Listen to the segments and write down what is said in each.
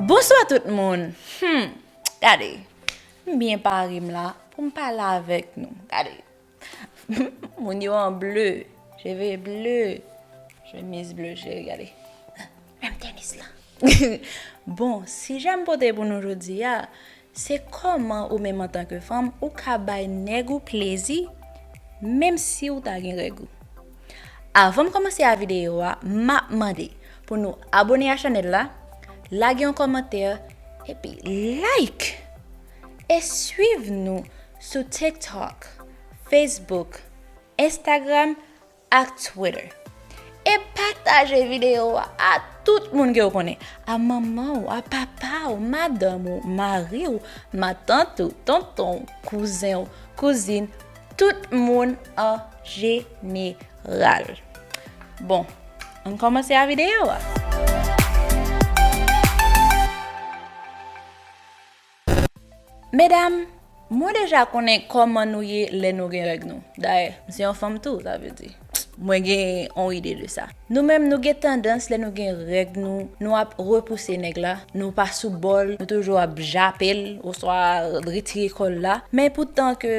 Bonswa tout moun humm gade m byen pare m la pou m pale avèk nou gade humm moun yo an ble cheve ble chemiz ble cheri gade menm tenis lan bon sijè m pote pou nou jodi a Se kòman ou menm antanke fanm ou ka bay nèg ou plezi menm si ou ta gen règ ou. Avan m kòmanse a videyo a map mande pou nou abone a chanèl la, lage yon kòmantè epi like e swiv nou sou TikTok, Facebook, Instagram. ak Twitter. E pataje videyo a a tout moun ke ou konnen, a manman ou, a papa ou, madanm ou, mari ou, matant ou, tonton ou, kouzen ou, kouzin, tout moun an jeneral. Bon, an kòmanse a videyo a. Medam, mwen deja konnen kòman nou ye lè nou gen règ nou. Dayè, m se yon fanm tou, sa vle di. Mwen gen yon ide de sa. Nou menm nou gen tandans lè nou gen règ nou, nou ap repouse nèg la, nou pa sou bòl, nou toujou ap jape l oswa retire kò l la. Men poutan ke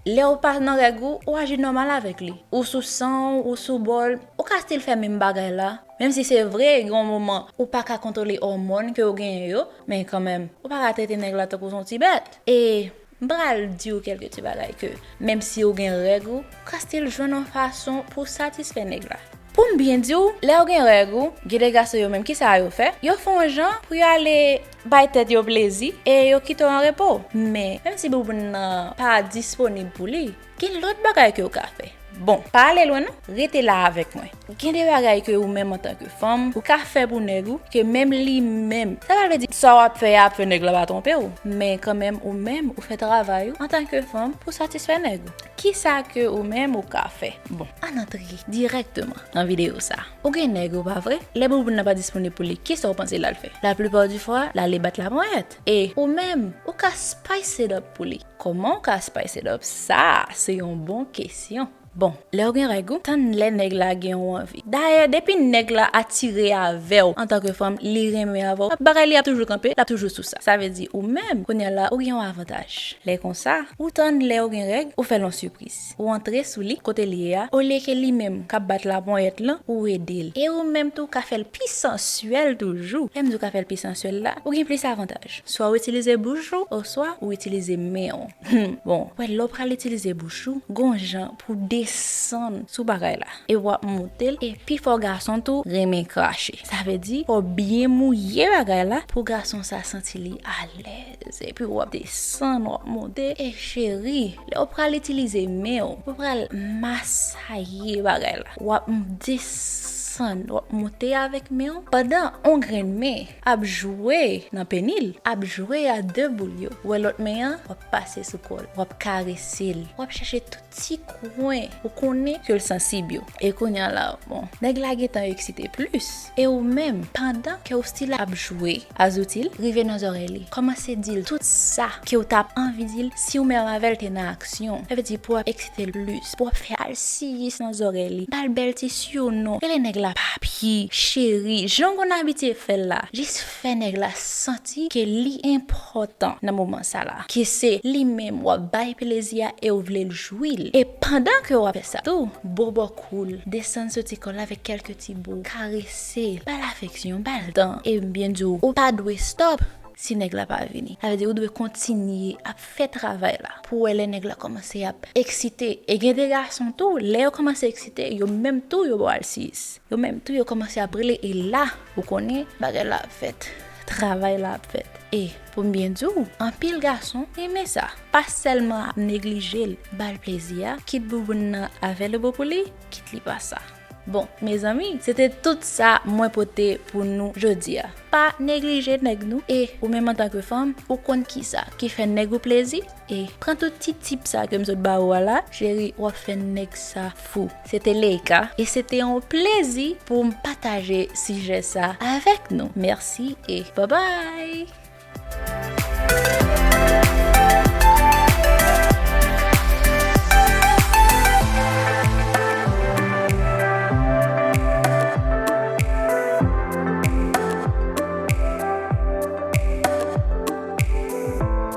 lè ou pa nan règ ou, ou aji nòmal avèk li. Ou sou san w, ou sou bòl, ou ka stil fè menm bagay la. Menm si se vre gen yon moman ou pa ka kontwole òmòn ke ou genyen yo, men kanmenm, ou pa ka trete nèg la tankou son ti bèt. E, m pral di ou kèlke ti bagay ke, menm si ou gen règ ou, ou ka stil jwenn yon fason pou w satisfè nèg la. Pou m byen di ou, lè ou gen règ ou, gen de gason yo menm ki sa yo fè, yo fè yon jan pou yo ale bay tèt yo plezi e yo kite w an repo. Men, menm si bouboun nan pa disponib pou li, Gen lòt bagay ke ou ka fè. Bon, pa ale lwen non, rete la avèk mwen. Gen de bagay ke ou menm antan ke fanm, ou ka fè pou nèg ou, ke menm li menm, sa pa vle di sa w ap fè a ap fè nèg la pa twonpe ou, men kan menm ou menm ou fè travay ou antan ke fanm pou satisfè nèg ou. Ki sa ke ou menm ou ka fè? Bon, ann antre dirèkteman nan videyo sa. Ou gen nèg ou, pa vre? Lè bouboun nan pa disponib pou li, ki sa ou panse l al fè? La plipa di fwa, l ale bat laponyèt. E, ou menm, ou ka spice it up pou li. Koman w ka spice it up sa se yon bon kesyon. Bon, lèw gen règ ou tann lè nèg la gen yon anvi. Dayè depi nèg la atire avèw antanke fanm li renmen avèw bagay li ap toujou kanpe lap toujou sou sa. Sa vle di ou menm kounya la ou gen yon avantaj. Lè konsa ou tann lèw gen règ ou fèl yon sipriz. Ou antre sou li kote l ye a olye ke li menm k ap bat laponyèt lan pou w ede l. E ou menm tou w ka fè l pi sansyèl toujou. Lè m di w ka fè l pi sansyèl la, ou gen plis avantaj. Swa w itilize bouch ou oswa ou itilize men w. Hum! Bon, ou wè lè w pral itilize bouch ou, gon jan pou w desann sou bagay la epi w ap moute l e pi fò gason tou renmen krache. Sa vle di fò w byen mouye bagay la pou gason sa santi li alèz. Epi wap desann wap monte e cheri lèw pral itilize menw ou pral masaye bagay la wap desann wap monte avèk menw pandan on grenn men ap jwe nan penil ap jwe a de boul yo wè lòt men an wap pase sou kòl wap karesel wap chèche tout ti kwen ou konnen ke l sansib yo e kounye a la bon nèg la gentan eksite plis e ou menm pandan ke ou stil ap jwe a zouti l rive nan zòrèy li kòmanse di l tout sa ke ou tap anvi di l si ou menm avè l te nan aksyon sa vle di pou w ap eksite l plis pou w ap fè alsiyis nan zòrèy li ba l bèl ti siyono rele nèg la papi cheri jan w konn abitye fè l la jis fè nèg la santi ke li enpòtan nan moman sa la, ke se li menm wap bay plezi a e ou vlel jwi l, e pandan ke wap fè sa tou, bobo kou l, desann soti kò l avèk kèlke ti bo, karese l, bal afeksyon, bal tan, e m byen di w, ou pa dwe stop si nèg la pa vini, sa vle di ou dwe kontinye ap fè travay la, pou wè lè nèg la kòmanse ap eksite, e gen de gason tou lè yo kòmanse eksite yo menm tou yo bo al 6, yo menm tou yo kòmanse ap rele e la Ou konnen bagay la ap fèt, travay la ap fèt. E, pou m byen di w, anpil gason renmen sa. Pa sèlman ap neglije l, ba l plezi a, kit bouboun nan avèlebo pou li, kit li pa sa. Bon, mezanmi, se te tout sa mwen pote pou nou jodi a. Pa neglije nèg nou. E, ou menm antanke fanm, ou konn kisa ki fè nèg ou plezi? E pran tout ti tip sa kem sot ba ou a la. Cheri wap fè nèg sa fou. Se te Leïka e se te yon plezi poum pataje sijè sa avèk nou. Mèsi e babay!